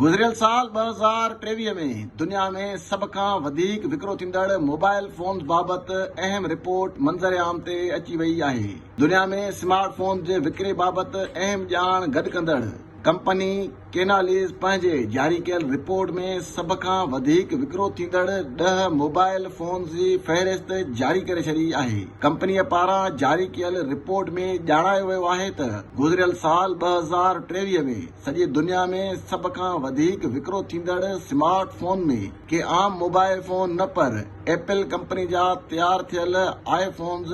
گذريل سال ٻه هزار ٽيويهه ۾ دنيا ۾ سڀ کان وڌيڪ وڪرو ٿيندڙ موبائل فونز بابت اهم رپورٽ منظر عام تي اچي وئي آهي. دنيا ۾ سمارٽ فونز جي وڪري بابت اهم ڄاڻ گڏ ڪندڙ ڪمپني ڪيناليز پنهنجي جاري ڪيل رپورٽ ۾ سڀ کان وڌيڪ وڪرو ٿيندڙ ڏهه موبائل فونز جي فهرست جاري ڪري ڇڏي آهي. ڪمپنيء پاران جاري ڪيل رپورٽ ۾ ڄاڻايو ويو آهي ته گذريل سال ٻه هزار ٽيويهه ۾ سڄي دنيا ۾ سڀ کان وڌيڪ وڪرو ٿيندڙ سمارٽ فون ۾ ڪي عام موبائل فون نه پر ايپل ڪمپني جا تيار ٿيل آء فونز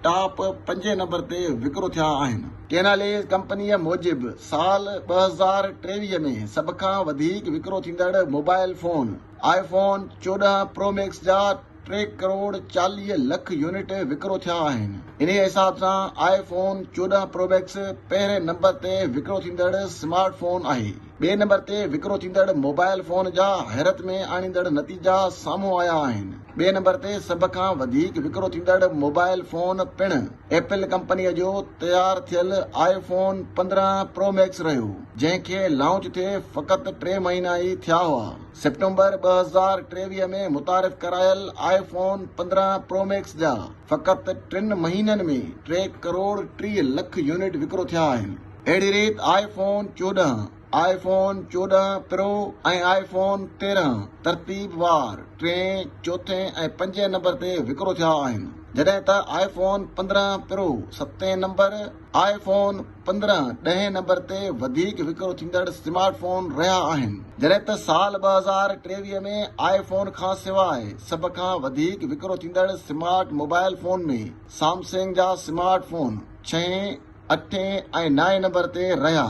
ٽاپ پنجين نمبر تي وڪرو ٿيا آهن. ڪيناليز ڪمپنيء موجب سال ٻه هزار ٽيويهه ۾ سڀ کان وڌيڪ وڪرو ٿيندڙ موبائل فون آء فون چوڏهن پرو ميڪس جا ٽي ڪروڙ چاليهه لک يونٽ وڪرو ٿيا آهن. انهيء حساب سان آء فون چوڏهن پرو ميڪس پهرين نمبر تي وڪرو ٿيندڙ سمارٽ فون آهي. ٻئي نمبر تي وڪرو ٿيندڙ موبائل فون جا حيرت ۾ آڻيندڙ نتيجا سامهون آيا آهن. ٻئي نمبر تي سڀ کان وڌيڪ وڪرو ٿيندڙ موبائل فون پڻ ايپل ڪمپنيء جو تيار ٿيل آء فون پندرهن پرو ميڪس رهيو، جنهن کي لانچ ٿئي فقط ٽي مهينا ئي ٿيا هئا. سيپٽمبر ٻه هزار ٽيويهه ۾ متعارف ڪرايل آء فون پندرهن پرو ميڪس جا فقط ٽن مهينن ۾ ٽي ڪروڙ ٽيهه لک يونٽ وڪرو ٿيا آهن. اهڙي ريت آء فون چوڏهن، آء فون چوڏهن پرو ۽ آء فون تيرهن ترتيب وار ٽئين، چوٿين ۽ پنجين نمبر تي وڪرو ٿيا آهن جڏهن ته آء فون پندرهن پرو ستين نمبر، آء فون پندرهن ڏهين نمبر تي وڌيڪ وڪرو ٿيندڙ سمارٽ فون رهيا آهن، جڏهن ته سال ٻه هزار ٽيويهه ۾ آء فون کان سواء سڀ کان وڌيڪ وڪرو ٿيندڙ سمارٽ موبائل فون ۾ سامسنگ جا سمارٽ فون ڇهين، اٺين ۽ نائين نمبر تي رهيا.